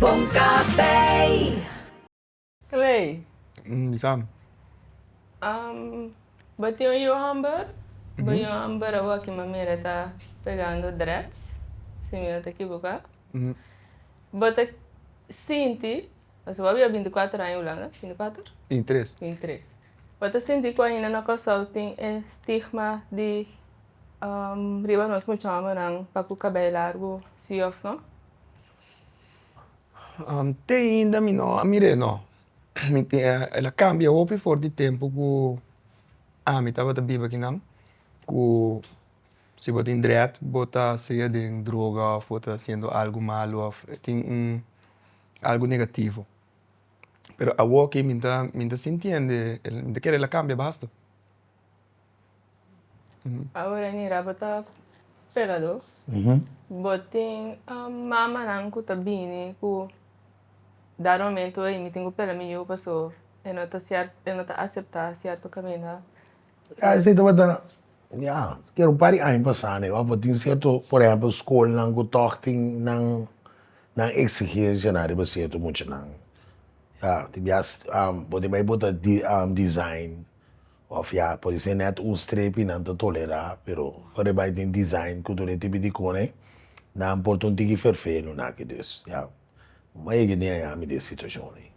Bon café. Clay. Di Sam. Um, bo tin un yu hamber? Bo yu hamber awaki ma mira e ta pegando dreads, si mi no ta ekiboka. Bo ta sinti, pasobra bo a bia binti kuater aña Hulanda, binti kuater? Binti tres. Binti tres. Bo ta sinti ku ainda na Kòrsou tin e stigma di riba nos mucha hombernan pa ku kabei largu, si òf no? te ainda mi no a mir'e no, mi tin e el a cambia hopi for di tempo cu ami tabata biba kinan cu si bo tin dread bo ta siga den droga of bo ta haciendo algo malo of e tin un algo negativo pero awoki mi ta mi ta sintiende el mi ta kere el a cambia basta. Awor Nira bo ta pegador bo tin mamanan cu ta bini cu dado momento ey mi tin cu pela mi yu pasobra e no ta cier e no ta acepta cierto caminda. Ya esey tabata ya quiero un par di aña pasa ne bo tin cierto por ejemplo schoolnan cu tog tin nan nan exigencia riba cierto muchanan ya tin bias bo tin bay bo ta design Of ya por di ser net un strepi nan ta tolera, pero pa ribai tin design cu tur e tipi di cone, nan por ta un tiki ferfelu naki dus ya un a yega di hañami di e situacion ey.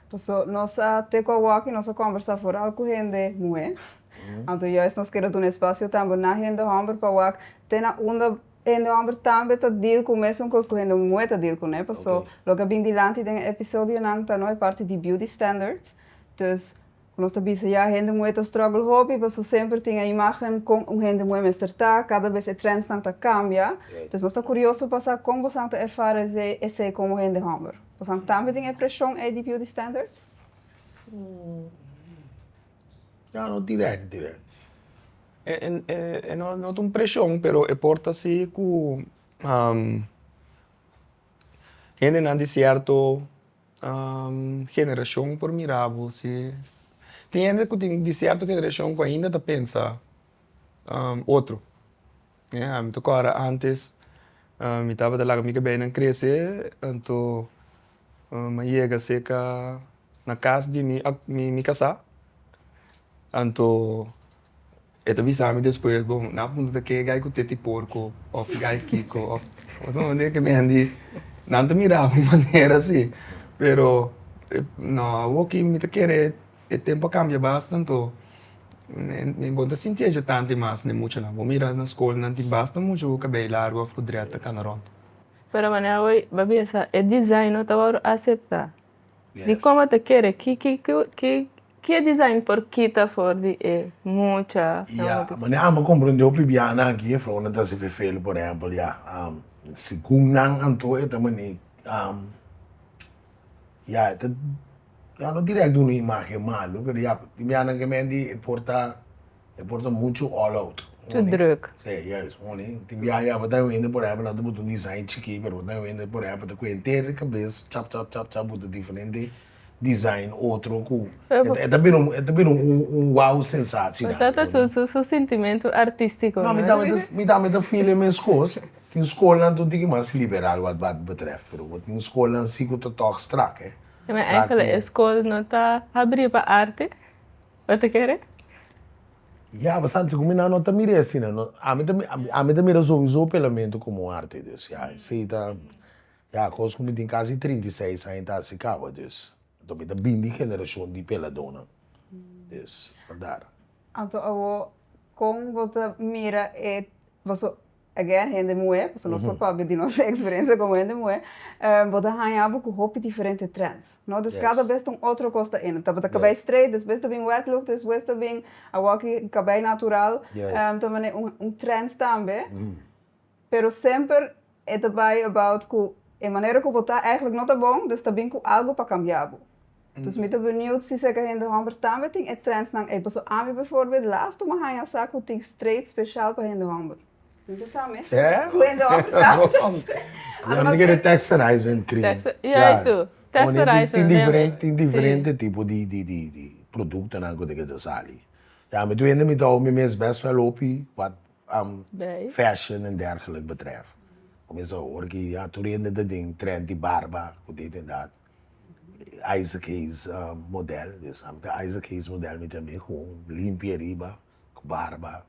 Paso nos a teko awaki nos a combersa foral cu hende muher, anto juist nos keda duna espacio tambe na hende homber pa wak te na unda hende homber tambe ta deal cu mesun cos cu hende muher ta deal cune, paso loke a bin dilanti den e episodionan ta no e parti di beauty standards. Entonces, cu nos ta bisa ya, hende moe ta struggle hopi paso semper tin e imagen con un hende moe mester ta, cada bes e trendsnan ta cambia. Entonces, nos ta curioso pa sa con bosan ta erfara esey, esey como hende homber. Bosan tambe tin e presion ey di beauty standards? No, no direct, direct. No, no ta un presion, pero e por ta si cu hendenan di cierto. generashon por mira bo si tin hende ku tin di sierto generashon ku ainda ta pensa otro a mi ta kòrda ántes mi tabata laga mi kabeinan krese anto mi a yega seka na kas di mi mi kasá anto. E ta bisa mi despues, Bo, nan a puntra ta ke gai ku teti porko òf ki gai kiko òf pasobra mi mira ke Mandy nan ta miraba un manera si. Pero, nò, awor ki mi ta kere e tempu a kambia bastantu mi bo ta sinti ajo tanti mas den muchanan. Bo mira na skol nan tin basta mucha ku kabei largu òf ku drèt ta kana rònt. Pero manera bo a bisa, e design no tabata aseptá. Di como ta kere ki ki ki e design por kita for di e mucha. Ya manera amo comprende hopi bianan aki e vrounan ta hasi fefelo por ehempel ya segun nan anto e ta mani ya e ta ya no direct duna imagen malo pero ya tin bianan ke mente e por ta. E por ta muchu all out. Too druk. Sí, juist. Hondi tin biaha bo ta wende por ehempel nan ta butu un design chikí pero bo ta wende por ehempel ta kue henter di kabes chap chap chap chap butu diferente design otro ku e ta bira un e ta bira un wow sensatie nan. Esa ta su su sintimentu artístiko. No mi tambe ta mi tambe ta feel e meskos. Tin skolnan tu un tiki mas liberal wat dat betrèf pero bo tin skolnan si ku ta tòg strak, hè. Strak ku. Pero e skol no ta habrí pa arte? Bo ta kere? Ya, bastanti ku mi nan no ta mira e asina. Ami ta ami ta mira sowieso pelamento komo un arte dus ya esei ta ya kos ku mi tin kasi trinta i seis aña ta hasi kaba dus anto mi ta bini di generashon di peladónan dus bandar. Anto awor kon bo ta mira e boso. Again hende muhé, pasobra nos por papia di nos eksperensia komo hende muhé, bo ta haña bo ku hopi diferente trends, no? Dus kada bes ta un otro kos ta ene. Tabata kabei streit, despues ta bin wet look, despues ta bin awor ki kabei natural, ta manera un trend tambe, pero semper e ta bai about ku e manera ku bo ta, ègèlik no ta bon, dus ta bin ku algu pa kambia bo. Entonces mi ta benieuwd si sèke hende hòmber tambe tin e trendsnan ei, paso ami bijvoorbeeld laas toe mi a haña sa ku tin straight spesjal pa hende hòmber. Mi ta sa mes ku hende hòmber tambe ta straight. Yami ta kere texturized men kring. Ya estu, texturized men neer men. Tin diferente tipo di di produktonan ku ta keda sali. Ya mi tur hende mi ta hou mi mes best wel hopi wak fashion en dergelijk betrèf. Mi mes ta hou ora ki tur hende ta den trend di barba ku dit en dat. Isaac Hayes model mi sa ta Isaac Hayes model mi tambe ku un limpia riba ku barba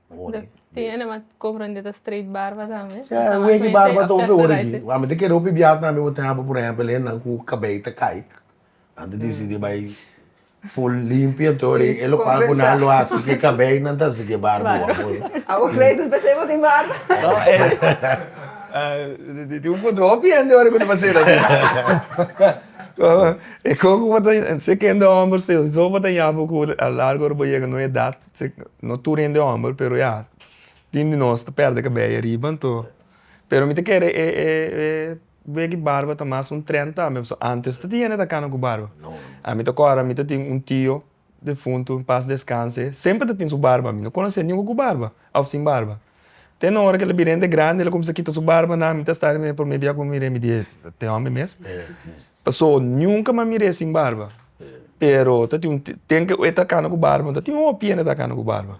boni tin ene mas komprende ta straight barba tambe si a weki barba ta hopi ora aki wan mi ta kere hopi biaha tambe bo ta haba por ehempel e nan ku kabei ta kai nan ta disidi bai Full limpio todo y e lo cual cu nan lo haci que cabello nan ta haci que barba wak hoor. Awo Clayton p'esei bo tin barba? No eh, tin un control hopi hende ora cu ta pas'e lo asina. E coco bo ta, si e hende homber souzo bo ta yapo cu a largo ora bo yega na un edad, no tur hende homber pero ya tin di nos ta perde cabello ariba anto, pero mi ta kere e e e. Wea ki barba ta mas un trenta ame pasobra antes ta tin hende ta kana ku barba. Ami ta kòrda mi ta tin un tio defuntu en pas deskanse semper ta tin su barba mi no konosé niunke ku barba òf sin barba te na ora ku el a bira hende grandi el a kuminsá kita su barba nan mi ta stari mir'é promé bia ku mi mir'é mi di ey te hòmber mes paso niunke mi a mir'é sin barba pero ta tin un tempu ku e ta kana ku barba ta tin hopi hende ta kana ku barba.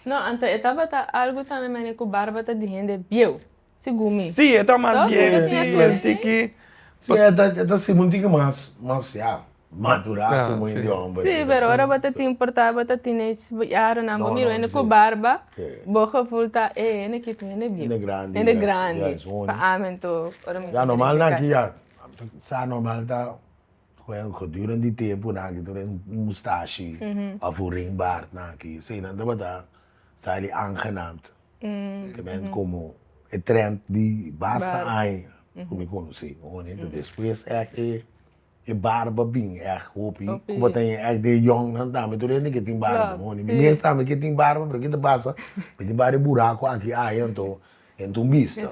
No antes e tabata algu tambe manera ku barba ta di hende bieu. Segun mi. Sí, e ta mas biega si el tiki. Sí, e ta e ta segun tiki mas mas ya madurá komo un di hòmber. Sí, pero ora bo ta tin por ta bo ta teenage yaronan bo mira un hende ku barba bo geful ta e hende ki ta un hende bieu, un hende grandi pa ami anto ora mi ta identifiká. Ya normal nan aki ya sa normal ta gedurende di tempu nan aki tur den un mustashi òf un ringbaard nan aki eseinan tabata sa di angenaamd. ke men komo e trend di basta aña ku mi konosé, hombrenan despues èk e barba bin èk hopi kubatin èk den yòngnan tambe tur hende ke tin barba, mi mes tambe ke tin barba pero ke ta pasa mi tin bai de buraku aki aña anto henter un bista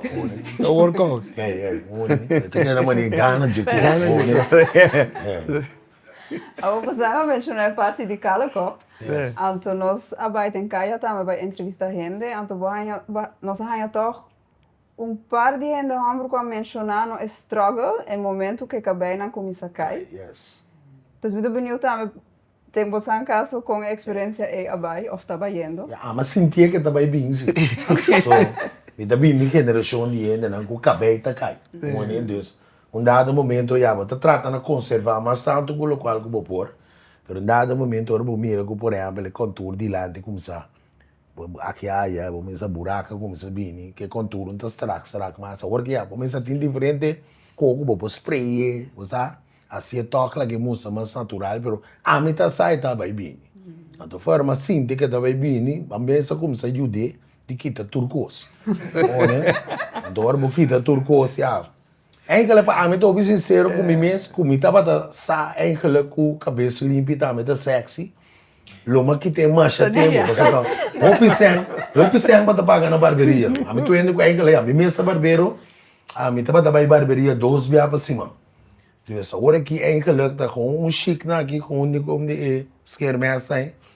Awor ku Zang a menshona e parti di kala kòp, anto nos a bai den kaya tambe bai entrevista hende, anto bo haña, nos a haña tòg un par di hende hòmber ku a menshoná no e strògel e momentu ku e kabei nan kuminsá kai. Entonces mi ta biniu tambe den bosan kaso kon e eksperensia ei a bai òf ta bayendo. Mi ama sintié ku e ta bai bini si. So, mi ta bini di un generashon di hendenan ku kabei ta kai. Ung'e, dus, Un dado momento ya bo ta trata na conserva mas tanto cu locual cu bo por, pero un dado momento ora bo mira cu por ehempel e contour dilanti comsa aki aya, bo mester sa buraca comsa bini, cu e contournan ta strak strak mas, awor cu ya bo mester sa tin diferente coho cu bo por spray'e, bo sa, haci e toc laga e mustra mas natural, pero ami ta sa e ta bay bini, anto afuer a sinti cu e ta bay bini a mester comsa yud'e di kita tur cos, anto ora bo kita tur cos ya Eigenlijk pa ami ta obi sincero cu mi mes cu mi tabata sa eigenlijk cu cabes limpi ta ami ta sexy lo ma kite masha tempo pasobra ta hopi cen hopi cen pa ta paga na barberia ami ta wende cu eigenlijk ya mi mes ta barbero ami tabata bay barberia dos bia pa siman dus awor aki eigenlijk ta con un chic nan aki con un nico de e schermesnan.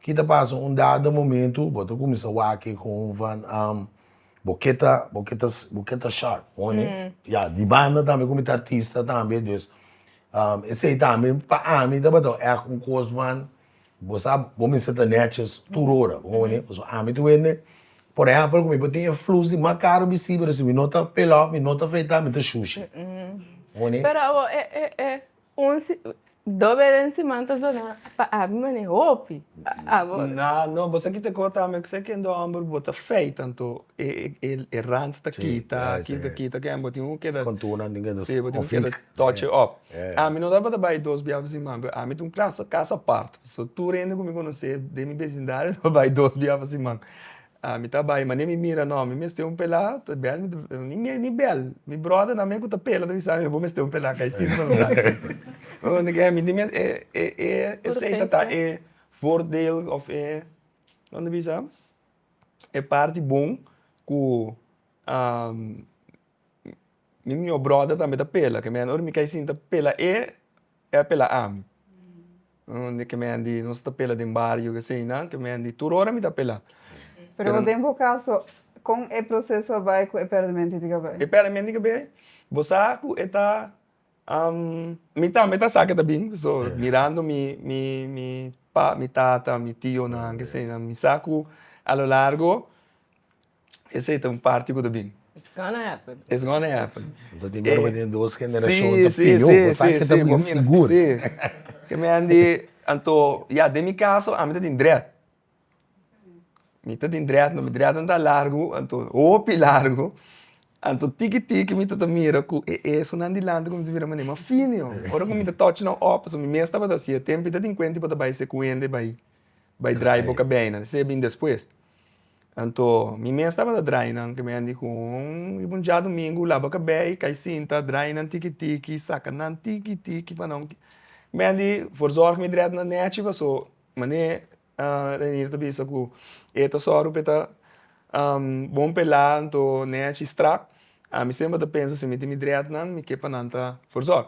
Ki ta pasa? Un dado momento bo ta cuminsa waki con van am bo ke ta bo ke ta bo ke ta sharp honey ya di banda tambe cu mi ta artista tambe dus am esey tambe pa ami tabata echt un cos van bo sa bo mester ta neches tur ora honey pasobra ami ta wende por ehempel cu mi por tin e flus di mas caro bisti pero si mi no ta pela mi no ta afeita mi ta shushi honey. Un si do beren siman ta zona pa Aby manera hopi abo. Na no bo sa kita ko ta ami kusai kende homber bo ta fey tanto e e e rans ta kita aki ta kita ken bo tin ku keda si bo tin ku keda tochi op ami no tabata bai dos bia pa siman pero ami ta un kasa apart so tur hende ku mi konosé den mi besindario ta bai dos bia pa siman Ah mi ta bai mane mi mira no mi mester un pela ta bel mi ta ni mi ni bel mi brother nan me ku ta pela ta bisa mi bo mester un pela kai sin ta bela mi ta mi mester e e e esei ta ta e voordeel of e kico ta bisa e parti bon ku mi mi yo brother tambe ta pela ke mi anor mi kai sin ta pela e E a pela ami. Unda ke mi a ndi, nos ta pela den bario asina, ke mi a ndi tur ora mi ta pela. Pero den bo kaso, kon e proseso a bai ku e pèrdementi di Gabriel? E pèrdementi di Gabriel, bo sa ku e ta, mi tambe ta sa ke ta bin, so mirando mi, mi, mi pa, mi tata, mi tionan, keseinan, mi sa ku a lo largo Esey ta un parti cu ta bin. It's gonna happen. It's gonna happen. Entonces tin guardaba tin dos generacion ta pidió, bo sa ke ta muy sigur. Sí, sí, sí. Ke mi Andy, anto ya den mi caso ami ta tin dret. Mi ta tin dret, mi dret nan ta largu, anto hopi largu. Anto tiki tiki mi ta ta mira cu e eesonan dilanti cuminsa bira manera mas fino. Ora cu mi ta touch nan opa, so mi mes tabata haci e tempo, i ta tin cuenta i bo ta bay secuenda i bay. Bai draai bo kabeinan. Esei a bin despues. Anto mi mes tabata draainan ku mi di ku un riba un djadumingu laba kabei, kai sinta, draainan tiki tiki, saka nan tiki tiki pa nan. Mi di for zòrg mi drèt na nèchi paso mane Reinir ta bisa ku e ta sòru pa e ta bon pa e la anto nèchi strak. Ami semper ta pensa si mi tin mi drètnan mi ke pa nan ta for zòrg.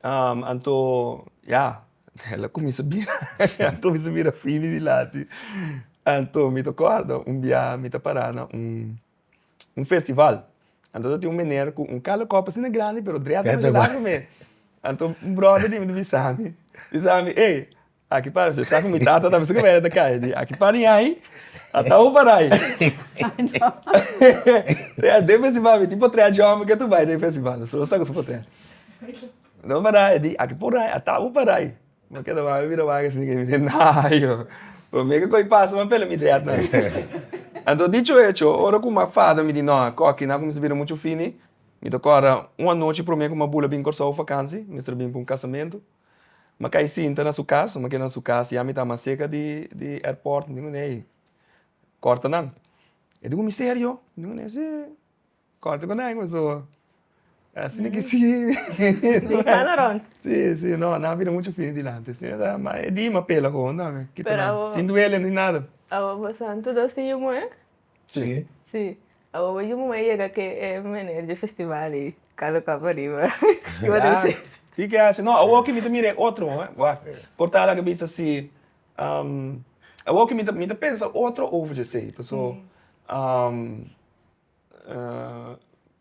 Anto ya, el a kuminsá bira, el a kuminsá bira fini di lati. Anto mi ta kòrda un biaha mi ta pará na un festival, anto ta tin un mener ku un kal di kòp asina grandi pero drèt debra di lado me. Anto un bròder di mi ta bisa mi, bisa mi, ey! Aki para si esaki mi tata ta bisa ku Maria ta kai di aki para ñai ata un parai. Trea den festival mi tin por trea djòmen ke ta bai den festival mi solo sa ku su por trea. No parai a di aki porai ata un parai. Mi keda wak mi bira wak esei ke mi di nayo promé ke koi pasa mi a pela mi trea ta. Anto dicho hecho ora ku mi a fada mi di no a koki nan kumisa bira muchu fini mi ta kòrda un anochi promé ku mi a bula bin Kòrsou vakansi mester bin pa un kasamento. Ma kai sinta na su kas, ma keda na su kas ya mi ta mas seka di di airport mi kuné ei kòrta nan. E duna mi serio? Mi kuné ei si kòrta ku nan kusu asi na kisi si si no nan a bira muchu fini dilanti si nada ma e di mi a pela koho nan kita nan sin duele ni nada. Awobo santu dos tin yu muhé? Sí. Awoba yu muhé yega ke e mener dje festival i kalo kap ariba i wak den se. Di ke hasi. No, awor ke mi ta mira e otro un, wak, portada ke bisa si, awor ke mi ta mi ta pensa otro over dje sei, paso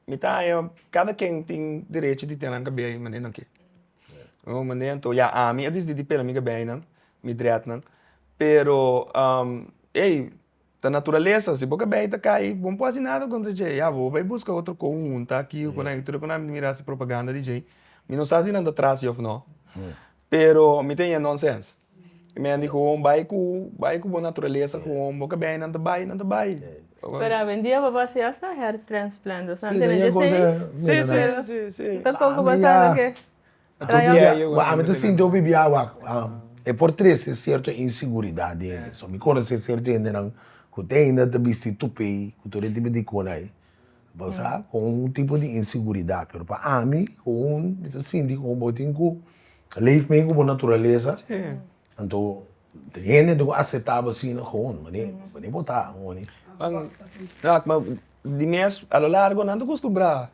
mi ta haña kada ken tin derecho di ten nan kabia e manera nan ke. Ron mane anto ya ami a desidi di pela mi kabei nan, mi dreadnan, pero ey. Ta naturalesa, si bo ka bay ta kai, bo no por haci nada contra dje. Ya bo bay busca otro conjunto aki o cunai. Tur e cu nan a mira su propaganda di dje. Mi no sa si nan ta traci of no. Pero mi ta yeh nonsense. Mi ta yeh di gewoon bay cu, bay cu bo naturalesa gewoon. Bo ka bay, nan ta bay, nan ta bay. Pero a wendia bo ta haci hasta hair transplant. Bo sa ntende dje esei? Bo ta toc'o bo sa lo ke. Ami ta sinti hopi biaha wak, e por trese sierto insiguridat di hende. So mi konosé sierto hendenan ku te ainda ta bisti tupei ku tur e tipo di kona ei, pasobra ku un tipo di insiguridat. Pero pa ami, mi ta sinti ku bo tin ku leef mee ku bo naturalesa, anto tin hende ku ta aseptá bo asina koon, mane bo ta. Di mes a lo largo nan ta kostumbrá.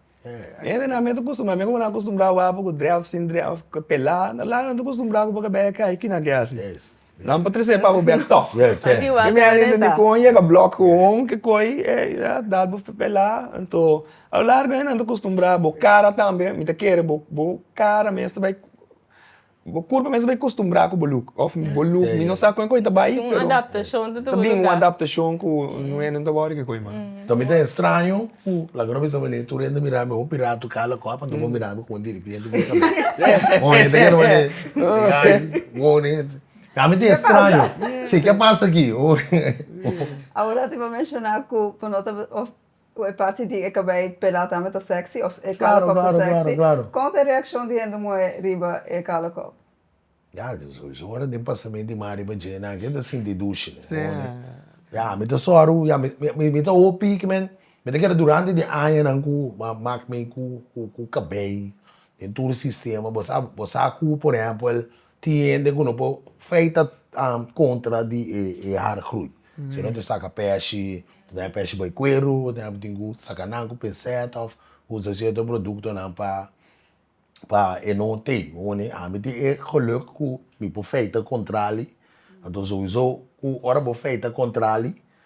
Hende nan mester custumbrá, mi componan custumbrá wapo cu drèf, sin drèf, cu pelá, na laga nan ta custumbrá cu bo cabé a cai, kinan ke haci? Nan pa trecé pa bo bek tòg, mi a hende con yega blòk con ke coi a dal bo pelá, anto a lo largo nan ta custumbrá, bo cara tambe, mi ta kere bo cara mes ta bai Bo kurpa mes bai kostumbrá ku bo luk. Òf bo luk mi no sa kon ku e ta bai pero. Ta bin un adaptashon tudu lugar. Ta bin un adaptashon ku no e nan ta wou di kiko e mas. Ta mi ta estraño ku laga no bisa wene tur hende mira mi. Ho piratu kala kòp anto bo mira mi ku un diripienti ku un kamera. Bon hende ke no e ai wone. A mi ta estraño. Si ke pasa aki? Awor a ti bo menshoná ku bo no ta òf Ku e parti di e kabei pelá tambe ta sexy òf e kala kòp ta sexy. Kon ta e reakshon di hende muhé riba e kala kòp? Ya, so ora den pasamentu di mar riba Djena aki e ta sinti dushi. Ya, mi ta sòru, ya mi ta hopi kimen, mi ta keda durante di añanan ku a mak mi ku kabei den tur sistema. Bo sa ku, por ehèmpel tin hende ku no por feita kontra di e haargroei. Si no ta saka pèshi, ta daña pèshi bai kueru, ta tin ku saka nan ku penset òf usa sierto produktonan pa pa e no tei. Ami tin e geluk ku mi por feita kontrali. Anto souso ku ora bo feita kontrali.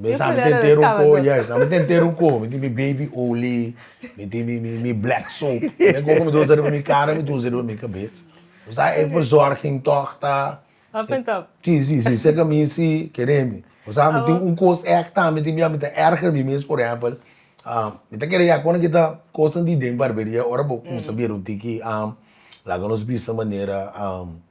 Mi sa mi tin tero ko, yes, mi tin tero ko, mi tin mi baby oly, mi tin mi mi mi black soap, mi ko ku mi ta usa riba mi kara mi ta usa riba mi kabes, mi sa e verzorging tog ta Up and top. si si si si seka mi si kere mi, mi sa mi tin un kos ek ta mi tin bia mi ta erger mi mes por ehempel mi ta kere ya kon a kita kosnan di den barberia ora bo kumsa bier un tiki laga nos bisa manera.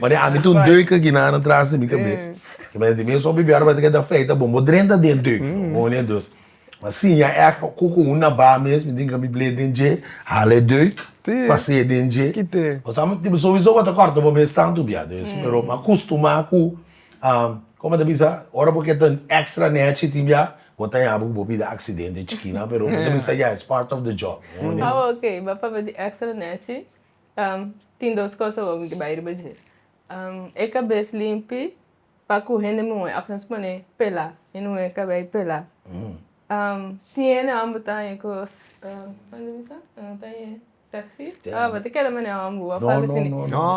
Mane ami ta un deuk aki na na tras di mi kabes. E mene di mi esopi biaha tabata ke ta feita bon. Bo drenta den deuk no bo mane dos. Ma siña èk ku ku un na ba mes mi tin ka mi bleet den dje, hala e deuk, pas'é den dje. Bo sa bo tin sowieso bo ta kòrta bo mes tantu biaha des. Pero mi a kustumá ku komo a ta bisa ora bo ke ta èkstra nèchi tin biaha bo ta yabi ku bo pida aksidente chikinan pero mi ta bisa ya es part of the job. Awe oke bo a papia di èkstra nèchi Tin dos kos awor mi ke bai riba dje. E kabes limpi pa ku hende muhe òf nos pone pela. Mi no muhe kabes i pela. Tin hende wan bo ta haña kos, kònde mi bisa? Bo ta haña sèksi? O bo ta keda manera wan bo a falta si ni.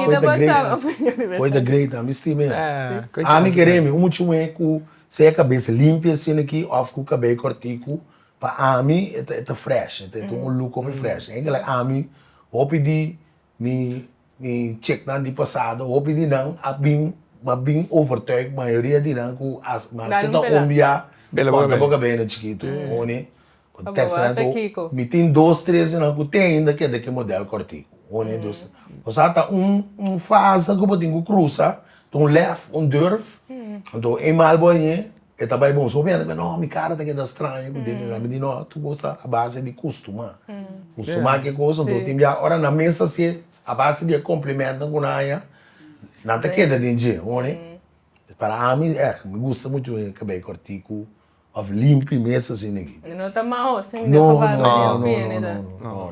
Kita bo sa opinion riba esaki. Koita great na. Mi stima e. Ami ke rimi un mucha muhe ku si e kabes limpi asinaki òf ku kabei kòrtiku. Pa ami e ta e ta fresh, e ta con un look hopi fresh. Enke like ami, hopi di mi mi chicnan di pasado, hopi di nan a bin a bin overtuig, mayoria di nan cu a maske ta homber ya, porta bo cabena chikito. Honey, con tekstenan tu ho. Mi tin dos, tres di nan cu tin ainda keda ki model cortico. Honey, dos, tres. O sa ta un un fase cu bo tin cu crusa, ta un lef, un durf, anto e mal bo añe, e ta bai bon. Sopinan ta kunda, no, mi kara ta keda straño ku denti nan. Mi di, no, tur kos ta a base di kustumá. Kustumá ke kos, anto tin bia ora nan mes hasié a base di e komplimentunan ku nan haña, nan ta keda den dje, ho'n'e? Para ami, eh, mi gusta muchu e kabei kòrtiku òf limpi mes asina. No ta maho, sino ta barba den pie, no, no, no.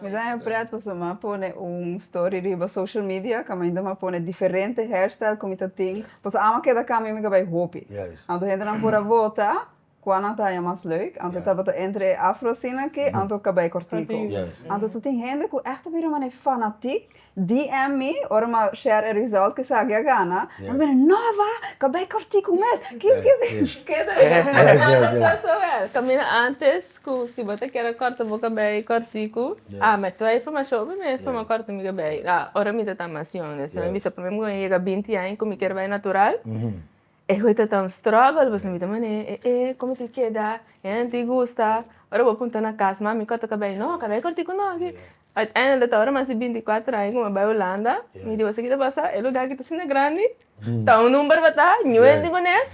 Mi ta haña prèt pasobra mi a pone un story riba social media kaminda mi a pone diferente hairstyle ku mi ta tin. Pasobra amo a keda kambio mi kabai hopi. Anto hendenan por a bota kua nan ta haña mas leuk. Anto tabata entre e afro asina ke anto kabai kòrtiku. Anto ta tin hende ku èk ta bira mané fanatik DM mi ora mi a share e result cu esaki a gana. Mi bira, No Ava, ca bay corti cu mes. Kiko kies di? Keda e manda perso wel. Camina antes cu si bo ta kier a corta bo cabey corti cu ami. Toda e informacion obi mes pa mi a corta mi cabey. Ora mi ta ta mas young, despues mi bisa pa mi mi a yega binti aña cu mi kier bay natural. E goe ta ta un struggle boso mira manera e e e como tin keda hende tin gusta ora bo punta na cas mami cor ta cabei no cabei cor tin cu no aki uiteindelijk ta ora mas di binti cuatro aña cu mi a bai Hulanda mi di boso kita basa e lugar kita asina grandi ta un number bo ta nuel di bones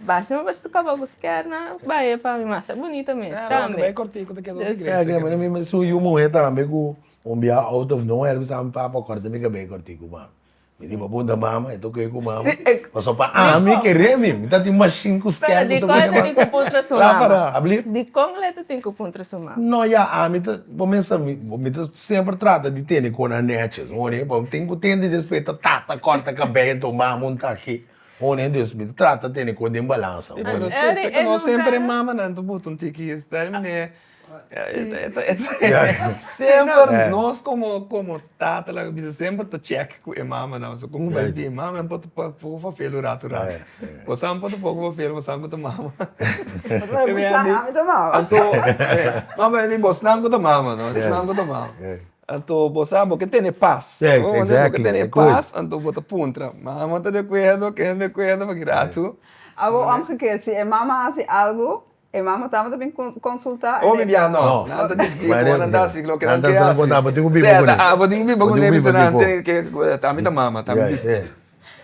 basha mi basha caba bo skier nan bai e pami masha bunita mes tambe cabei cor tin cu ta keda un iglesia aki na mi mi su yu muhe tambe cu un bia out of no where mi sa mi papa corta mi cabei cor tin cu mami. Mi tin pa puntra mama, e ta oke ku mama. Paso pa ami keré mi, mi ta tin mashin ku skel. Pero dikon e ta tin ku puntra su mama? Abli? Dikon el e ta tin ku puntra su mama? No ya, ami ta kuminsha, mi ta semper trata di tene kon Anètje, su ho'n'e? Bo tin ku tende despues ta tata kòrta kabei, enton mama un tak aki, su ho'n'e? Des mi ta trata tene kon den balansa. Pero si esaki no semper e mamanan ta butu un tiki, esei manera. Semper nos komo komo tatanan a bisa semper ta chèk ku e mamanan so komo bai di e mama nan por ta poko fafel un ratu ratu bosan por ta poko fafel bosan ku ta mama anto ma bai di bosnan ku ta mama no esnan ku ta mama anto bo sa bo ke tene pas bo sa bo ke tene pas anto bo ta puntra mama ta de akuerdo ken ta de akuerdo pakiyi ratu. Awo òm gekeer si e mama hasi algu E mama tabata bin konsultá? Oh mi bia no, nan ta discutié ku bo, nan ta hasi loke nan ke hasi. Nan ta haci loke nan ke hasi. Sèt, abo tin ku biba ku Nefi será nan tin ke ami ta mama, ta mi discutí.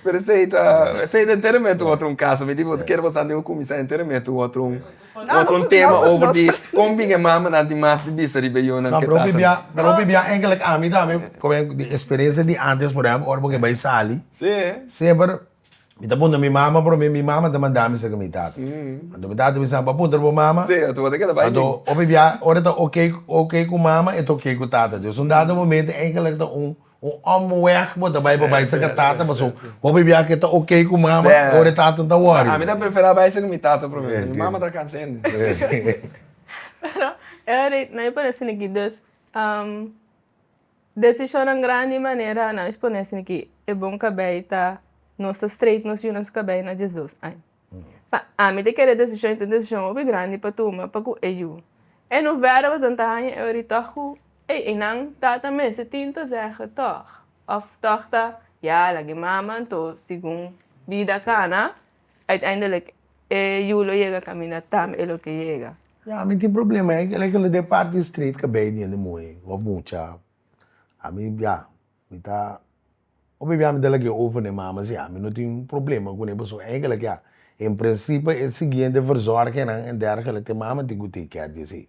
Pero esei ta, esei ta enteramento otro un caso, mi di bo ta keda bo sa anto yo kuminsá enteramento otro un, otro un tema over di kon bin e mamanan tin mas di bista riba e yunan ke tatanan. Pero mi bia engelek ami tambe, experiencia di antes por ehempel ora bo ke bai sali, semper. Mi ta puntra mi mama prome, mi mama ta manda mi saka mi tata. Anto mi tata bisa, Bo a puntra bo mama? Anto hopi bia ora e ta oke oke ku mama e ta oke ku tata. Dor esun dado momento eindelijk ta un un omweg bo ta bai pa bai saka tata paso hopi bia ke ta oke ku mama e ora e tata ta worry. Ami ta prefera bai saka mi tata prome paso mi mama ta kansende. Pero e ora ei nan mi parasende ki dos. Decisionnan grandi manera nan expone sin ki e bon cabey ta nos ta straight nos yu nos cabey na Jesus ai. Pa ami ta kere decision y ta un decision hopi grandi pa tuma pa cu e yu e no wera pasobra nan ta hanja e ori tog cu ey y nan tata mester tin ta zege tog of tog ta ya lag'e mama anto segun bida cana. Uiteindelik e yu lo yega kaminda tambe e lo ke yega. Ya, mi tin problema ei, kila kila den parti street ka bei di hende muhe of mucha. Ami, ya, mi ta, hopi bia mi ta lag'é over n'e mama si ami no tin problema kuné pasobra ei kila kia en prensipe e siguiente verzorgenan en dergelijke mama tin ku tei kier di esei.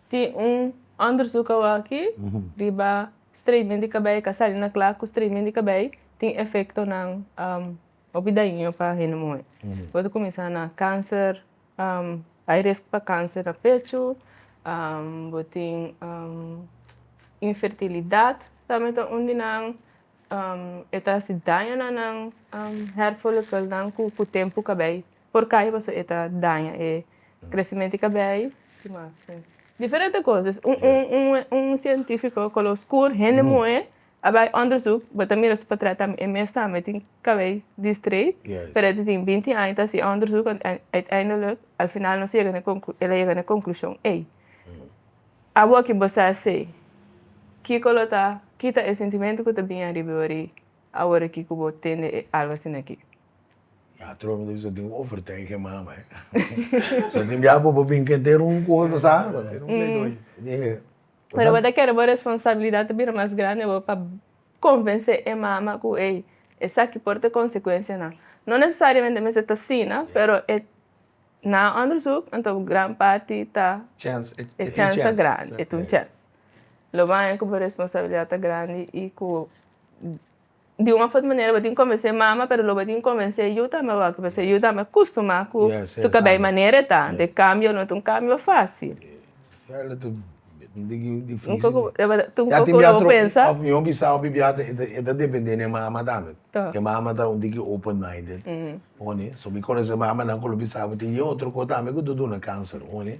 Tin un onderzoek awaki riba straightening di kabei, ta sali na kla ku straightening di kabei tin efektonan hopi daiño pa hende muhé. Bo ta kuminsá na kanser, hay risk pa kanser na pechu, bo tin infertilidat tambe ta un di nan, e ta hasi daño na nan hair follikelnan ku tempu kabei por kaya paso e ta daña e crecimento di cabey ki mas tin diferente cosas un cientifico color oscur hende moe a bay onderzoek bo ta mira su patret tambe e mes tambe tin cabey di straight pero e ta tin binti aña ta haci e onderzoek en uiteindelijk al final nos yega na e conclu el a yega na e conclusion ey awor ki bo sa sey kiko lo ta kita e sentimento ku ta bini ariba di bo awor aki ku bo tende e algo asinaki. Ya trobe ta bisa tin overtij ke mama eh. so tin bia bobo bin ke te run kosa ta sa bo no. Te Pero bo ta kere bo responsabilidad ta bira mas grandi awor pa konvensé e mama ku ey esaki por ta konsekuensianan. No nesesariamente mester ta asina, pero e na òndersuk anto gran parti ta Chance, e tin chance ta grandi, e tin chance. Lo baña ku bo responsabilidad ta grandi i ku di un of otro manera bo tin convence mama pero lo bo tin convence yu tambe awor pasobra yu tambe a costuma cu su cabia y manera eta antes cambio no ta un cambio facil ya tin bia troca of mi hopi sa hopi bia e ta depende den e mama tambe e mama ta un tiki open minded hondi so mi conece mamanan cu lo bisa bo tin yey otro cosa tambe cu ta duna cancer hondi.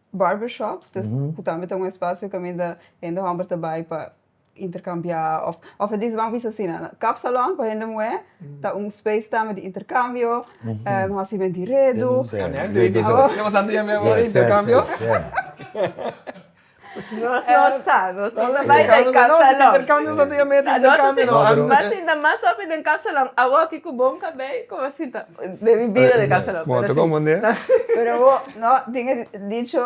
Barbershop, dus ku tambe ta un espasio kaminda hende hòmber ta bai pa interkambiá òf, òf e di ban bisa asina, kapsalòn pa hende muhé ta un speis tambe di interkambio, hasi menti redu, pero bo. No, tin e dicho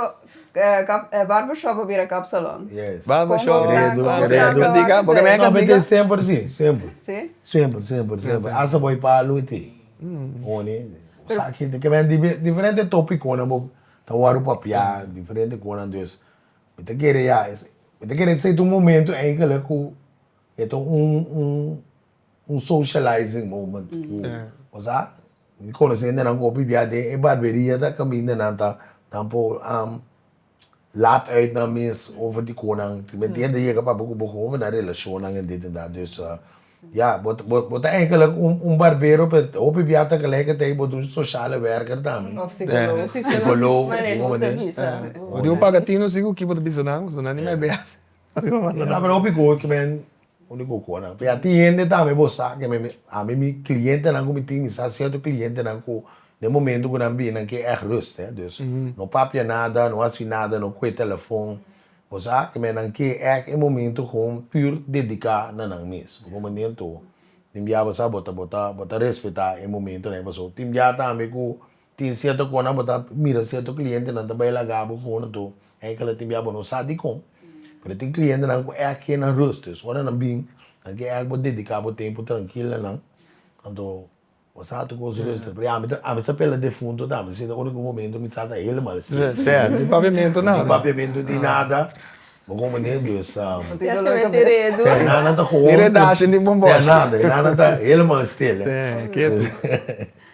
barbershop a bira kapsalon. Yes. Barbershop, redu, redu. Porque mi a kende di ka. Semper si, semper. Si? Semper, semper, semper. Hasta bo e palu e te. Oni, bo sa ki te. Ke mi a di, diferente topiconan bo ta wòrdu papia, diferente konan. Dus, mi ta kere ya, mi ta kere esei ta un momento enkele ku e ta un, un. Un socializing moment cu nos a conoce hendenan cu a pipia den e barberia ta cami hindenan ta nan por laat uit nan mes over di conan. Tin hende yega papia cu bo con over nan relacionnan en dit en dat. Dus ya, bo ta bo ta eigenlijk un barbero pero hopi pipia tegelijkertijd bo ta un sociale werker tambe. Of psicoloog. Of psicoloog. Maneho bo ta bisa. Bo tin un paga tin un sicu ki bo ta bisa nan, pasobra nan ni mai bay haci. No pero hopi cos kimen Un di bo konan. P'e a tin hende tambe bo sa ke mi ami mi klientenan ku mi tin mi sa sierto klientenan ku den momento ku nan bini nan ke èg rust he. Dus no papia nada, no hasi nada, no kohe telefòn. Bo sa ke mi nan ke èg e momento kon pür dediká na nan mes. Bo komo nen to tin bia bo sa bo ta bo ta bo ta respetá e momentonan ei pasobra tin bia tambe ku Tin cierto conan bo ta mira cierto clientenan ta bay laga bo cu nan tur e kela tin bia bo no sa dicon pero tin clientenan cu echt ken nan rust es ora nan bin nan ke echt bo dedica bo tempo trankil na nan anto bo sa tu cos rust pero ami ta ami sa pela defunto ta ami seta unico momento mi sa ta helemal still no tin papiamento nada no tin papiamento no tin nada bo como menen dus e nan ta cohondo e nan ta helemal still.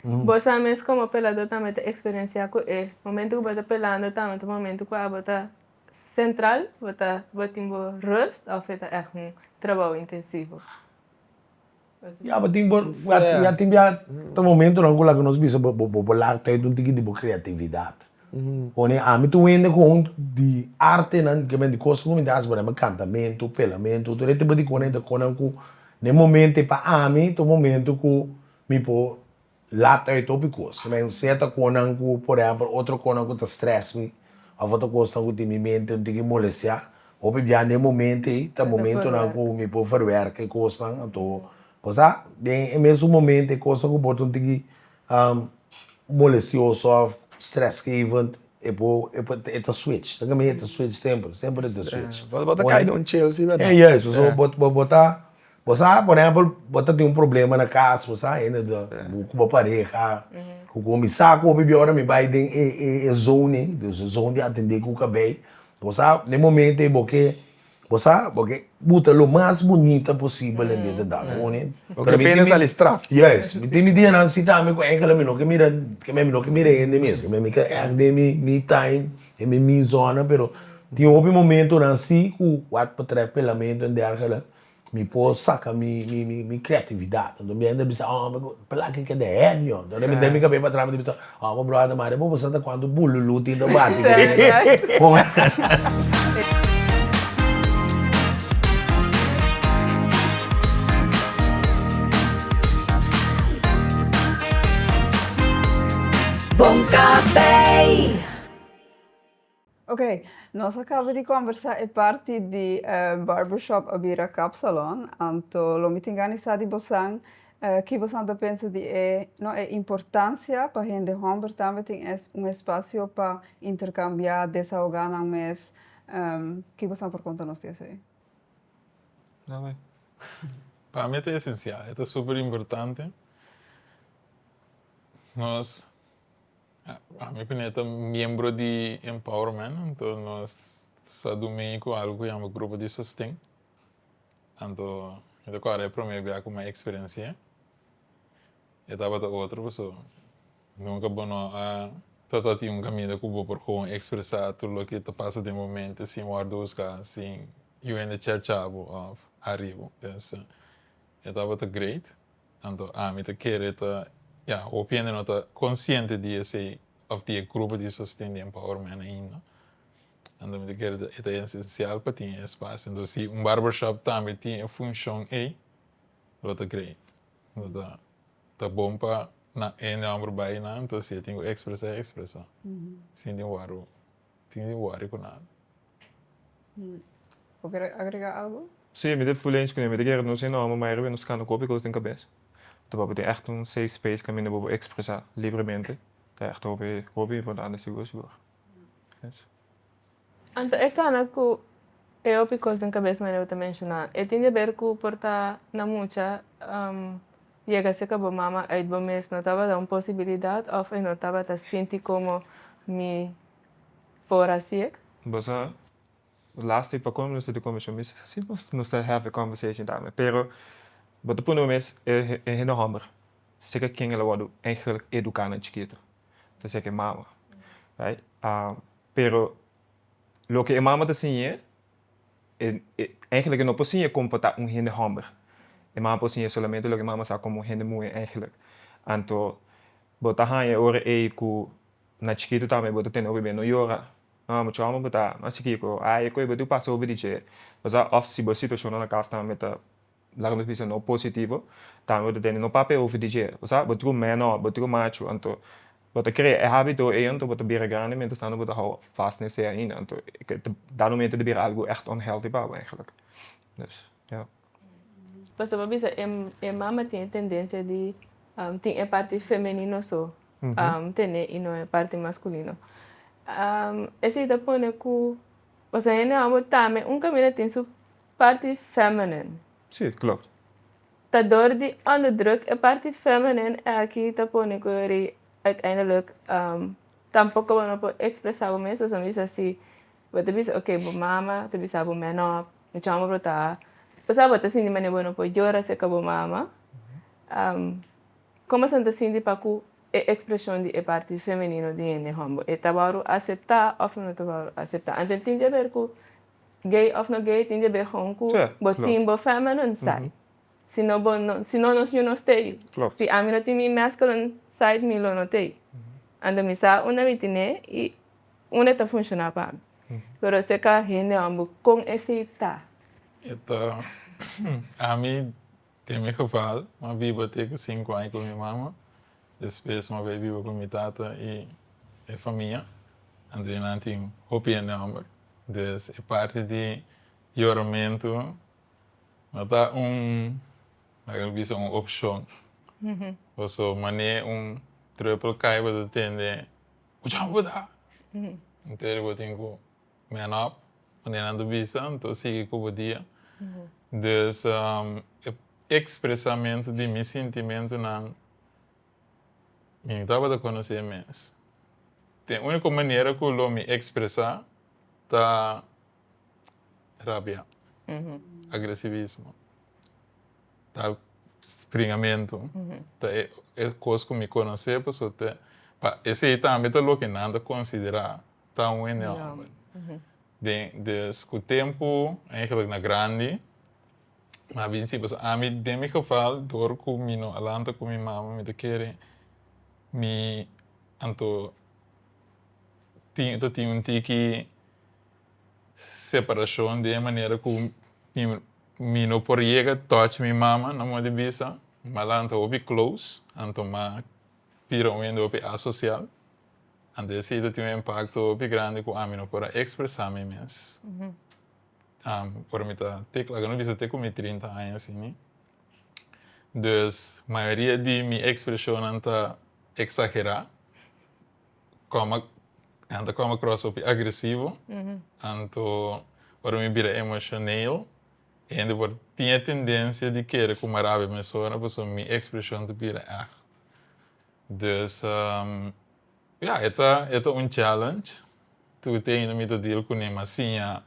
Bo sa mes komo peladó tambe ta eksperensiá ku e momentu ku bo ta pelando tambe ta momentu ku abo ta sentral, bo ta bo tin bo rust òf e ta ègt un trabou intensivo? Ya, bo tin bo ya tin bia ta momentunan ku laga nos bisa bo bo bo laga tèit un tiki di bo kreatividat. Pone ami ta wende ku un di artenan ke men di kos ku mi ta hasi por ehempel kantamentu, pelamentu, tur e tipo di konenan ta konan ku na e momentu ei pa ami ta un momentu ku. Mi por laat uit hopi cos. Mi a hensea ta conan cu, por ehempel, otro conan cu ta stress mi of otro cosnan cu tin mi mente no tin ki molestia. Hopi bia den e momento ei ta momentonan cu mi por verwerka e cosnan anto bo sa den e mesun momento e cosnan cu bo ta un tin ki molestioso of stressgevend e por e por e ta switch esaki mi e ta switch semper semper e ta switch. Bo ta cay den un chilsi, verdad? Juist, bo ta Bo sa, por ehempel, bo ta tin un problema na cas, bo sa hende ta, cu bo pareha, cu cu mi sa cu hopi biora mi bay den e e e zoning, dus e zoning a tende cu cabey, bo sa, n'e momento ey bo ke, bo sa, bo ke buta lo mas bunita posibel den e dal, bo honen? Bo ke pena sali straf. Yes, mi tin mi dianan si tambe cu enkel ami no ke mira, keme ami no ke mira hende mes, keme ami ta echt den mi mi time, den mi mi zona, pero tin hopi momentonan si cu wak betreft pelamento en dergelijke. Mi por saca mi mi creatividad. Anto mi a yenda bisa, oh, pela aki keda heavy, oh. Entonces mi den mi cabeza pa atrás mi ta bisa, oh, bo brother Mario, bo por sa ta cuanto bululú tin ta bati den. Ok, nos a caba di combersa e parti di barbershop a bira kapsalon, anto lo mi tin gani sa di bosan ki bosan ta pensa di e, no, e importancia pa hende homber tambe tin es un espacio pa intercambia, desahoga nan mes, ki bosan por conta nos di esey? Nada, pa mi e ta esencial, e ta super importante, nos A mi opinion ta miembro di Empower men anto nos sa dumi ku algu ku yama grupo di sosten anto mi ta kòrda e promé bia ku mai eksperensia e tabata otro paso nunka bo no a trata di un kaminda ku bo por kon ekspresá tur loke ta pasa den bo mente sin wòrdu husgá sin yu hende cherchá bo òf harí bo entonces e tabata great. Anto ami ta kere ta, ya, hopi hende no ta konsiente di esei òf di e grupo di sosten di empowerment ainda. Anto mi ta kere ta e ta esensial pa tin e espasio. Anto si un barbershop tambe tin e funshon ei, lo ta great. Lo ta ta bon pa nan hende hòmber bai nan, anto si e tin ku ekspresá, e ekspresá sin tin wòrdu. tin di worry cu nada. Bo quiere agrega algo? Sí, mi ta full eens cu nan. Mi ta kere nos eno amo mayoria nos cana cu hopi cos den cabeza. Ta papia tin echt un safe space caminda bo por expresa libremente. Ta echt hopi, hopi importante sigur, sigur. Eso. Anto e cana cu e hopi cos den cabeza manera bo ta menciona, e tin di haber cu por ta na mucha Yega si ke bo mama uit bo mes no tabata un posibilidad of e no tabata sinti como mi por haci ec? Bo sa lastic pa con mester di confesion mi sa haci nos nos ta have a conversation tambe pero bo ta pone bo mes e e hende homber si ke ken el a wordo eigenlijk educa nan chikito ta ser ke mama right pero loke e mama ta siñe E e eigenlijk e no por siña como por ta un hende homber. E mama por siña solamente loke e mama sa como un hende muhe eigenlijk. Anto bo ta haña e ora ei ku na chikitu tambe bo ta tene hopi b'e no yora, no amo chua mamá bo ta amo asikiko, ai e koe bo tin ku pasa hopi di dje, pasá òf si bo situashonnan na kas tambe ta laga nos bisa no positivo, tambe bo ta tende no papia over di dje, bo sa bo tru meno, bo tru machu, anto bo ta krea e habito ei anto bo ta bira grandi mientras tanto bo ta hou fas na esei ainda, anto da momento ta bira algu echt unhealthy pa bo eigenlijk, dus ya. Pasobra bo a bisa e mama tin e tendencia di tin e parti femenino so tene i no e parti masculino, esei ta pone ku, pasobra hende mamabo tambe un kaminda tin su. parti feminin. Sí, klop. Ta dor di onderdruk e parti feminin e aki ta pone ku ri uiteindelik tampoko bo no por ekspresá bo mes, pasobra mi sa si bo ta bisa oke bo mama ta bisa bo menó mi chama bo ta pasá bo ta sinti manera bo no por yora serka bo mama, komo asina ta sinti pa ku e ekspreshon di e parti feminino di hende hòmber e ta wòru aseptá òf e no ta wòru aseptá? Anto tin di aber ku Gay of no gay tin debé hon cu bo tin bo feminine side si no bo no si no nos ñu no stay si ami no tin mi masculine side mi lo no tey ando mi sa unda mi tiné y unda ta funciona pa mi pero ese ka hende hon bo con esey ta. Ami. Tin mi geval, m'a biba te ku sinku aña ku mi mama, despues m'a bai biba ku mi tata i e famia, anto nan tin hopi hende hòmber, entonces e parti di yoramentu no ta un, laga mi bisa, un opshon, paso manera e un trùpel kai bo ta tende, kuch'an bo ta? Entere bo tin ku. Manop, manera nan ta bisa, nan ta sigui ku bo dia. Dus e ekspresamentu di mi sintimentunan, mi no tabata konosé mes. Den úniko manera ku lo mi ekspresá ta rabia, agresivismo, ta springamentu, ta e kos ku mi konosé pasobra esei tambe ta loke nan ta konsiderá. ta un enorme. Den, des cu tempo, eigenlijk na grandi, m'a bin si paso. Ami, den mi geval, dor cu mi no a lanta cu mi mama, mi ta kere mi anto tin, ta tin un tiki separacion den e manera cu mi no por yega touch mi mama na modo di bisa. M'a lanta hopi close, anto m'a pira un hende hopi asocial. Anto e sida tin un impakto hopi grandi ku ami no por a ekspresá mi mes. Ora mi ta te kla ku a no bisa te ku mi trinta aña sini. Dus mayoria di mi ekspreshonnan ta eksagerá. Kòm a ta kòm a kròs hopi agresivo. Anto ora mi bira emoshonel e hende por tin e tendensia di kere kumará abia mi persona pasobra mi ekspreshon ta bira eg. Dus, ya, e ta, e ta un challenge. Tur ti ainda mi ta deal kuné, ma siña,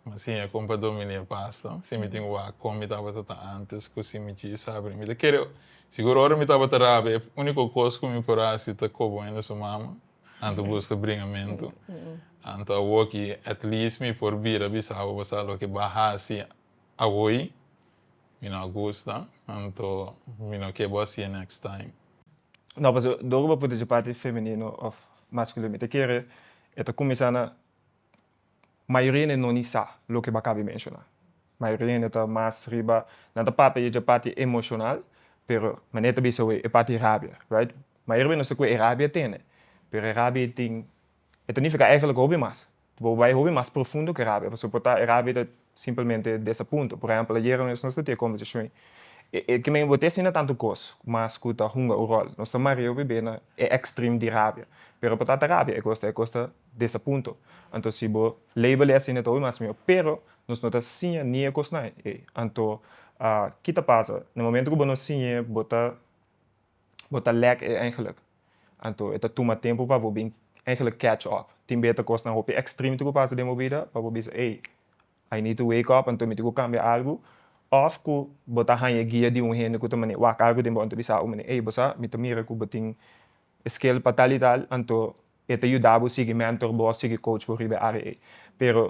ma siña e kompa dominé pasta. Si mi tin wak kon mi tabata ta antes ku si mi djis abri. Mi ta kere, sigur ora mi tabata rabia e úniko kos ku mi por hasi ta kobo hende su mama, anto buska bringamentu. Anto awoki at least mi por bira bisabo, bo sa loke ba hasi awoy? Mi no a gusta, anto mi no ke bo a si'e next time. No, pasobra dor ku bo puti dje parti femenino òf maskulino mi ta kere e ta kuminsá na mayoria hende no ni sa loke bo a kaba di menshoná. Mayoria hende ta mas riba nan ta papia di dje parti emoshonal pero mané e ta bisa awor e parti di rabia right. Mayoria di nos ta kue e rabia tene pero e rabia i tin e ta nifiká eigenlijk hopi mas. Bo bai hopi mas profundo ku e rabia pasobra por ta e rabia ta simplemente des a punto. Por ehèmpel ayer nos ta tin e kombersashon ei, e ke men bo ta asina tantu kos mas ku ta hunga un ròl. Nos ta maria hopi b'e na e èkstrim di rabia pero por ta ta rabia e kos ta e kos ta des a punto. Anto si bo label e asina ta hopi mas mihó pero nos no ta siña ni e kosnan ei. Anto ki ta pasa? Na momento ku bo no siña bo ta bo ta lek e eigenlik anto e ta tuma tempu pa bo bin eigenlik catch up tin bes ta kosnan hopi extremity ku pasa den bo bida pa bo bisa ey I need to wake up anto mi tin ku kambia algu of ku bo ta haña e guia di un hende ku ta mane wak algu den bo anto bisa abo mane ey bo sa mi ta mira ku bo tin e skill pa tal y tal anto e ta yuda bo sigui mentor bo of sigui coach bo riba e área ey pero.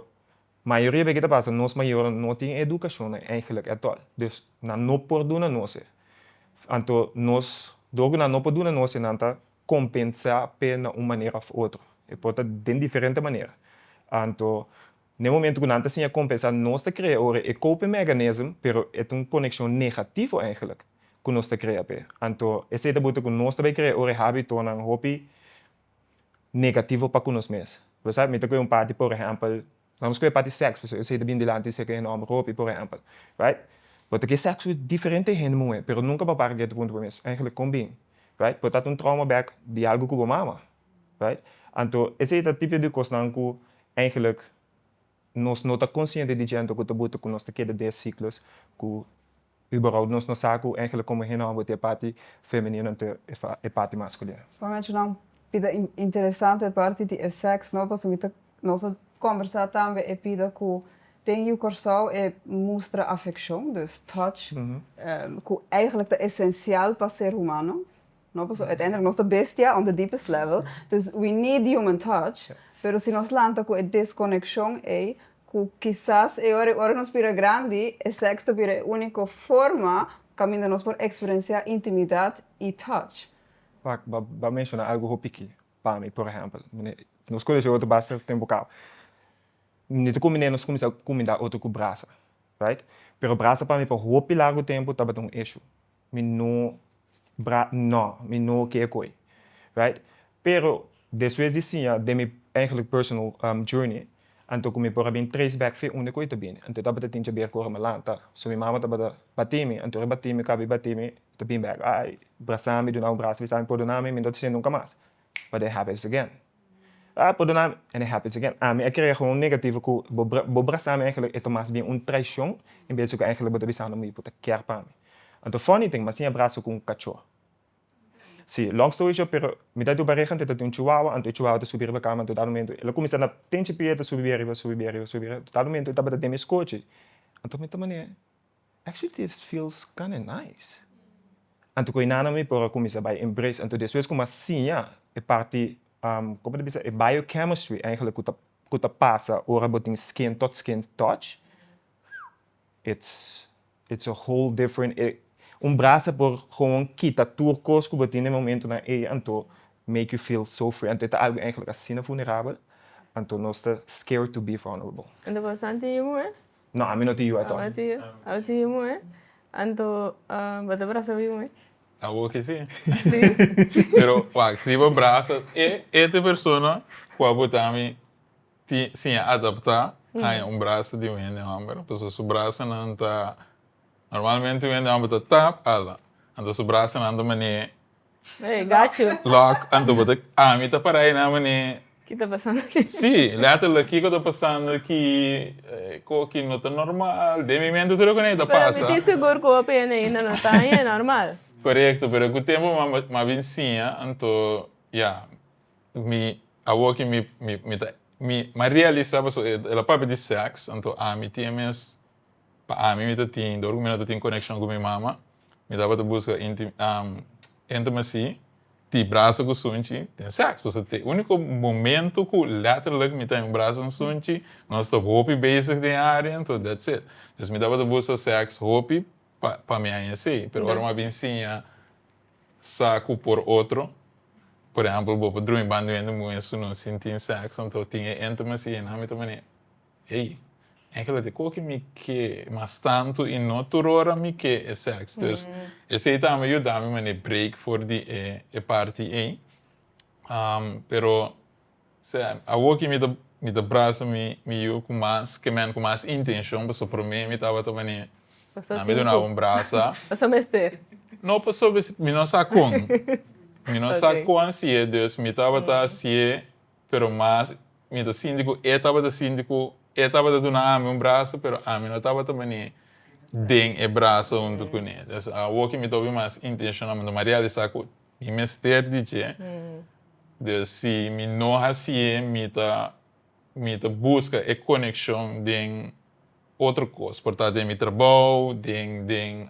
Mayoria di e ke ta pasa nos mayornan no tin e edukashon nan eigenlik etol. Dus nan no por duna nos e. Anto nos, dor ku nan no por duna nos e, nan ta kompensá p'e na un manera òf otro. E por ta den diferente manera. Anto na e momentu ku nan ta siña kompensá, nos ta krea ora e coping mechanism, pero e ta un konekshon negativo eigenlik ku nos ta krea p'e. Anto esei ta buta ku nos ta bai krea ora e hábitonan hopi negativo pa ku nos mes. Lo sa? Mi ta kohe un parti por ehèmpel, na nos kohe parti sèksu, pasobra esei ta bini dilanti di seke hende, òmber ku hopi, por ehèmpel, right? Bo ta ke sèksu diferente hende muhé, pero nunka bo a para geta punto bo mes, Ègentlik kon bin, right? Por ta un trauma bèk di algu ku bo mama, right? Anto esei ta tipo di kosnan ku ègentlik nos no ta konsiente di djento ku ta buta ku nos ta keda des siklo's ku. Iberou nos no sa ku engelnan komo hende hòmber ta e parti femenino nan ta e parti maskulino. Solamente nan bida interesante e parti di e sèks no pasobra mi ta nos a kombersá tambe e bida ku den Yu Kòrsou e mustra afekshon, dus touch, ku eigentlik ta esensial pa ser humano. No paso uiteindelijk nos ta bestia on the deepest level, dus we need human touch, pero si nos lanta cu e desconeccion ey cu kisas e ora, ora nos bira grandi e sex ta bira e unico forma caminda nos por experiencia intimidad y touch. Wak, bo a menciona algo hopi ki pa mi, por ehempel, nos conoce otro basta tempo cao, nunde ta cuminda nos cuminsa cuminda otro cu brasa, right, pero brasa pa mi pa hopi largo tempo tabata un issue, mi no bra nò mi no ke koe right pero despues di siña den mi eigenlik personal journey anto ku mi por a bin trace back fe unda koe ta bini anto tabata tin chaber ku ora mi lanta so mi mama tabata batimi anto ora e batimi kabi batimi ta bin back ai brasami duna un brasa mi sa mi pordonami mi no ta hasinan nunka mas pa den happens again. Ah, perdona mi, and it happens again, ami a krea gewoon un negativo ku bo bo brasami eigenlijk e ta mas bien un traishon en bes di ku eigenlijk bo ta bisando mi bo ta kier pa mi. Anto funny ting, mi a siña braso ku un kachó. Sí, long story short, pero mi ta di un pareha anto e ta tin un chihuahua, anto e chihuahua ta subi riba kama, anto dado momento el a kuminsá na pinchi pia, e ta subi bia riba, subi bia riba, subi bia riba, anto dado momento e tabata den mi skochi, anto mi ta manera, Actually this feels kinda nice. Anto ku e nana mi por a kuminsá bai embrace anto despues ku mi a siña e parti kòm ta bisa e biochemistry eigenlijk ku ta ku ta pasa ora bo tin skin tot skin touch it's it's a whole different e un brasa por gewoon kita tur kos ku bo tin den momentunan ei anto make you feel so free anto e ta algu asina vulnerabel anto nos ta scared to be vulnerable. Anto bastante yuwe No ami no tin yu ato. Abo tin abo tin yu moe anto bo ta brasa bo yu moe. Abo ke si. Si. Pero wak ri bo brasa e e te persona ku abo ta ami tin siña adapta haña un brasa di un hende homber pasobra su brasanan ta normalmente un hende homber ta tap ala anto su brasanan ta mane Hey, got you. Lock, anto bo ta, ami ta para ei na manera. Ki ta pasando aki? Sí, letterlijk, kiko ta pasando aki, ko aki no ta normal, den mi mente tur e konei ta pasa. Pero mi tin segur ku hopi hende ainda no ta aña e normal. Korekto, pero ku tempu mi a bin siña, anto ya, mi, awoki mi, mi, mi ta, mi a realisá pasobra el a papia di sèks, anto ami tin e mes Pa ami mi ta tin dor ku mi no ta tin konekshon ku mi mama, mi tabata buska intimacy, tin braso ku sunchi, tin sèks, pasobra ta e úniko momentu ku lèterlik mi ta den braso di sunchi, nos ta hopi bezig den adentu, dats it, dus mi tabata buska sèks hopi pa mi aña esei, pero ora mi a bin siña sa ku por otro, por ehèmpel bo por drumi banduen di un muhé su no sin tin sèks, anto tin e intimacy, e nan mi ta manera. Ey, enke lo te koki mi ke mas tantu y no tur ora mi ke e seks. Dus esey ta ame yuda mi mane break for di e parti ey. Pero sea, awo ke mi ta brasa mi yu ku mas kemen, ku mas intenshon, pasobra prome mi tabata mane na mi dunaba un brasa. Paso mester. No paso mester, mi no sa kon. Mi no sa kon hasiye, dus mi tabata hasiye pero mas mi ta sinti ku e tabata sinti ku e tabata duna ami un braso, pero ami no tabata bani den e braso huntu ku e. Entonces awor ku mi ta obi mas intenshonalmente mi a realisá ku mi mester di dje, dus si mi no hasi e mi ta mi ta buska e konekshon den otro kos, por ta den mi trabou, den den.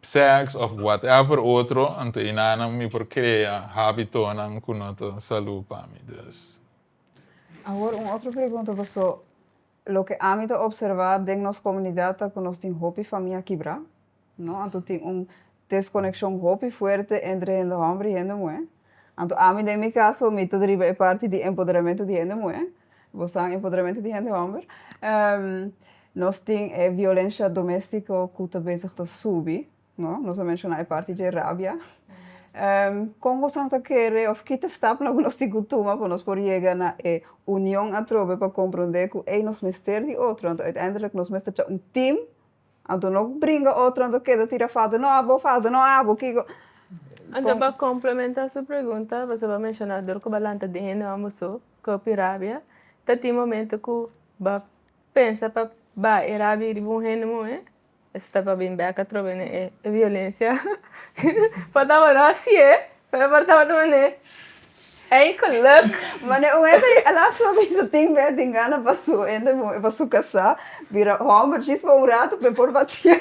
sex of whatever otro anto einanan mi por crea habitonan cu no ta salud pa mi dus. Awor un otro pregunta paso loke ami ta observa den nos comunidad ta cu nos tin hopi famia kibra no anto tin un desconeccion hopi fuerte entre hende homber y hende muher. Anto ami den mi kaso mi ta driba e parti di empoderamentu di hende muhé, bosan empoderamentu di hende hòmber, nos tin e violensha domestiko ku ta bezig ta subi, no? Nos a menshoná e parti dje rabia. Kon bosan ta kere òf ki ta stapnan ku nos tin ku tuma pa nos por yega na e union atrobe pa komprondé ku ei nos mester di otro, anto uiteindelik nos mester ta un tim Anto no bringa otro anto keda tira foto no abo foto no abo kiko. Anto pa complementa su pregunta pasobra bo a menciona dor cu ba lanta den hende mambo so kopi rabia ta tin momento cu ba pensa pa ba e rabia riba un hende muhe esey ta pa bin bek atrobe ne e violencia patabra no asie. Pero por tabata manera ey geluk. Manera un hende a lasta bay su tin bed tin gana pa su hende pa su casa bira homber jis pa un rato pe por batia.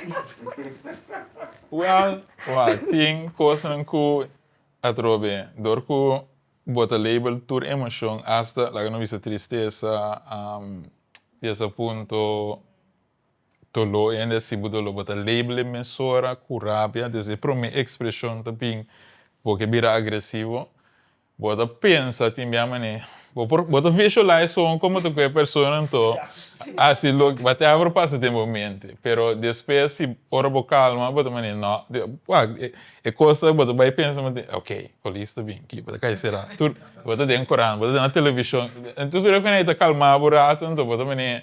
Well well tin cosnan cu atrobe dor cu bo ta label tur emocion hasta laga no bisa tristesa di esa punto Dolo e hende a sibu dolo bo ta label e mesora ku rabia entonces e prome ekspreshon ta bin bo ke bira agresivo bo ta pensa tin bia mane bo ta visualize so komo ta ku e persona anto hasi loke ba te abro pasa den bo mente pero despues si ora bo kalma bo ta mane no e kosa bo ta bai pensa mante ok polis ta bin bo ta kai sera tur bo ta den kurant bo ta den na televishon entonces tur e hende ku ta kalma bo rato anto bo ta mane.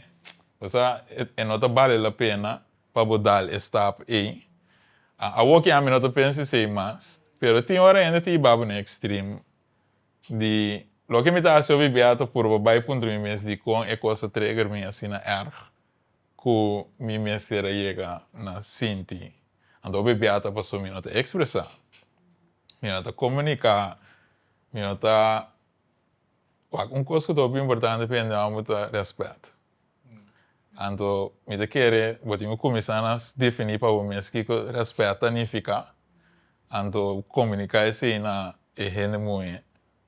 Pasa e no ta bale la pena pa bo dal e stap ei. Awoke ami no ta pensa esei mas, pero tin ora hende ta yiba bo na ekstrem di, Loke mi ta hasi hopi bia ta purba bai puntra mi mes dikon e kos a treger mi asina erg ku mi mester a yega na sinti. Anto hopi bia ta paso mi no ta ekspresa, mi no ta komunika, mi no ta Wak, un kos ku ta hopi importante pa hende homber ta rèspèt. Anto mi ta kere bo tin ku kuminsá na definí pa bo mes kiko rèspèt ta nifiká, anto komuniká esei na e hende muhé,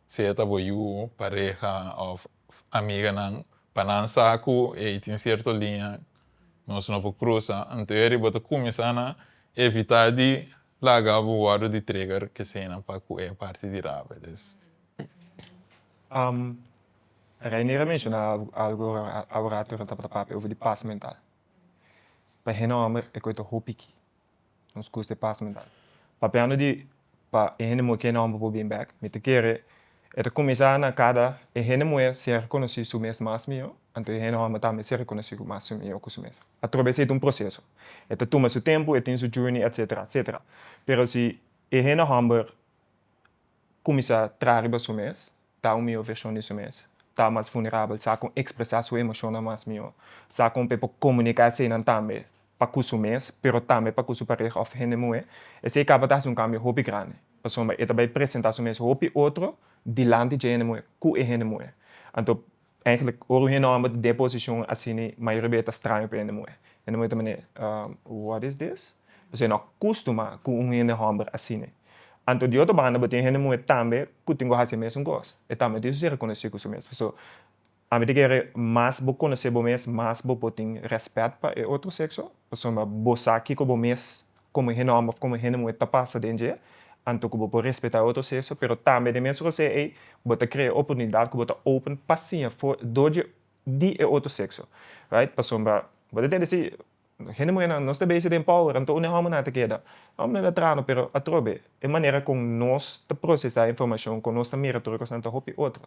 sea ta bo yu, pareha òf amiganan, pa nan sa ku ei tin sierto liña nos no por krusa. Anto eri bo ta kuminsá na evitá di laga bo wòrdu di trigger ku eseinan pa ku e parti di rabia. Reiner a menshona algu aworato ora tabata papia over di pas mental. Pa hende homber e kue ta hopi ki nos custa e pas mental. Papiando di pa e hende muhe ken homber por bin bek mi ta kere e ta cuminsa na cada e hende muhe ser conoci su mes mas mio anto e hende homber tambe ser conoci mas su mio cu su mes. Atrobe esey ta un proceso e ta tuma su tempo e tin su journey etc etc pero si e hende homber Kuminsá traha riba su mes, ta un mihó vershon di su mes. Ta mas vulnerabel, sa kon ekspresá su emoshonnan mas mihó. Sa kon p'e por komuniká eseinan tambe pa ku su mes, pero tambe pa ku su pareha òf hende muhé. Esei kaba ta hasi un kambio hopi grandi, pasobra e ta bai presentá su mes hopi otro dilanti dje hende muhé, ku e hende muhé. Anto Eigenlijk ora un henomer ta den posicion asini mayoria bey ta straño pa hende muhe. Hende muhe ta mane, What is this? Pasobra e no a custuma cu un hendehomer asini. Anto di otro banda bo tin hende muhe tambe cu tin cu haci e mesun cos. E tambe a tin su reconoci cu su mes. So, ami ta kere mas bo conoce bo mes mas bo por tin respet pa e otro sexo pasobra bo sa kico bo mes komo e hende homber of komo e hende muhe ta pasa den dje, anto ku bo por respetá otro sexo, pero tambe den mes rosé ei bo ta krea e oportunidat ku bo ta open pa siña for dor dje di e otro sexo, right? Pasobra bo ta tende si hende muhenan nos ta beise den power, anto un dje hombernan ta keda, hombernan ta trano pero atrobe E manera con nos ta procesa e informacion cu nos ta mira tur e cos nan ta hopi otro.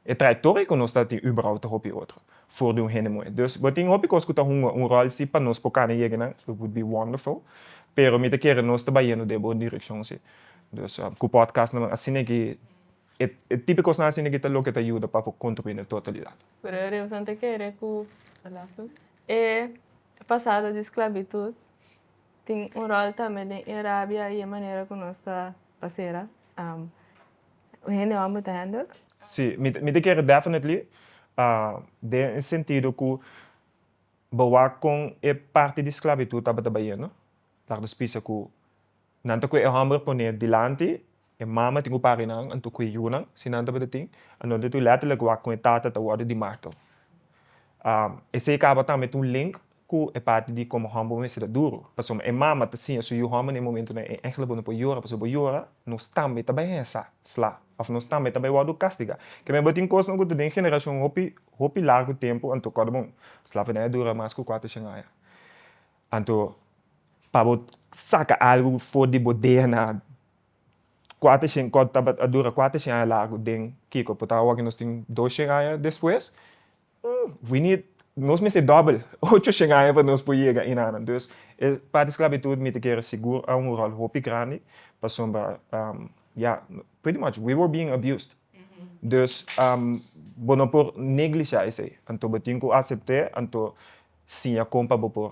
E trayectoria cu nos ta tin uberau ta hopi otro for di un hende moe. Dus bo tin hopi cos cu ta hunga un rol si pa nos por cana yega nan, it would be wonderful, pero mi ta kere nos ta bayendo den bo direccion si. Dus cu podcast nan asina aki e tipo e cosnan asina aki ta loke ta yuda pa por contribui na totalidad. Pero Reus nan ta kere cu e pasado di sclavitud Tin un ròl tambe den e rabia i e manera ku nos ta pasera hende hòmber ta hènder? Sí, mi ta kere definitely den e sentido ku bo wak kon e parti di sklabitut tabata bayendo. Laga nos bisa ku nan ta kue e hòmber pon'é dilanti E mama tin ku papinan, anto ku e yunan, si nan tabata tin, anorde tin lètterlik wak kon e tata ta wòrdu di marto. Esei kaba tambe tin un link ku e parti di komo hòmber bo mester ta duru. Pasobra e mama ta siña su yu hòmber na e momentunan e ehèmpel, bo no por yora pasobra bo yora nos tambe ta bai hesha sla òf nos tambe ta bai wòrdu kastigá. Ke men bo tin kosnan ku ta den generashon hopi hopi largu tempu anto kòrda bon, slaverdad a dura mas ku kuater shen aña. Anto pa bo saka algu for di bo dna Kuater shen kòt tabata a dura kuater shen aña largu den kiko por ta awor ke nos tin dos shen aña despues we need nos mester dòbel ocho shen aña pa nos por yega enanan dus e parti sklabitut mi ta kere sigur a un ròl hopi grandi pasobra ya pretty much we were being abused dus bo no por neglisha esei anto bo tin ku asept'e anto siña kon pa bo por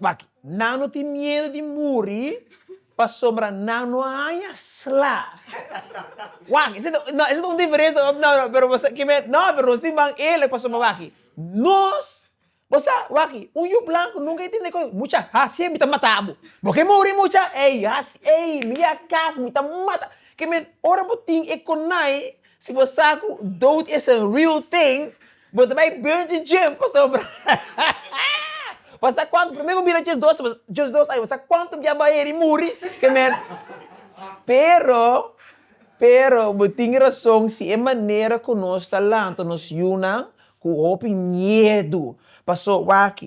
Wak, nan no tin miedu di muri pasobra nan no a haña sla. Wak, esei ta no esei ta un diferensia no no no pero bo sa kibe no pero nos tin ban eerlijk pasobra waki nos bo sa waki un yu blanku nunka i tin e kos mucha hasie mi ta mata bo bo ke muri mucha ei hasi ei mi a kas mi ta mata ke men ora bo tin e konai si bo sa ku dood is a real thing. Bo ta bai Virgin Gym pasobra pasa cuanto prome bo bira djesdos djesdos aña pasa cuanto bia bai heri muri ke mer pero pero bo tin razon si e manera ku nos ta lanta nos yunan ku hopi miedu paso wak.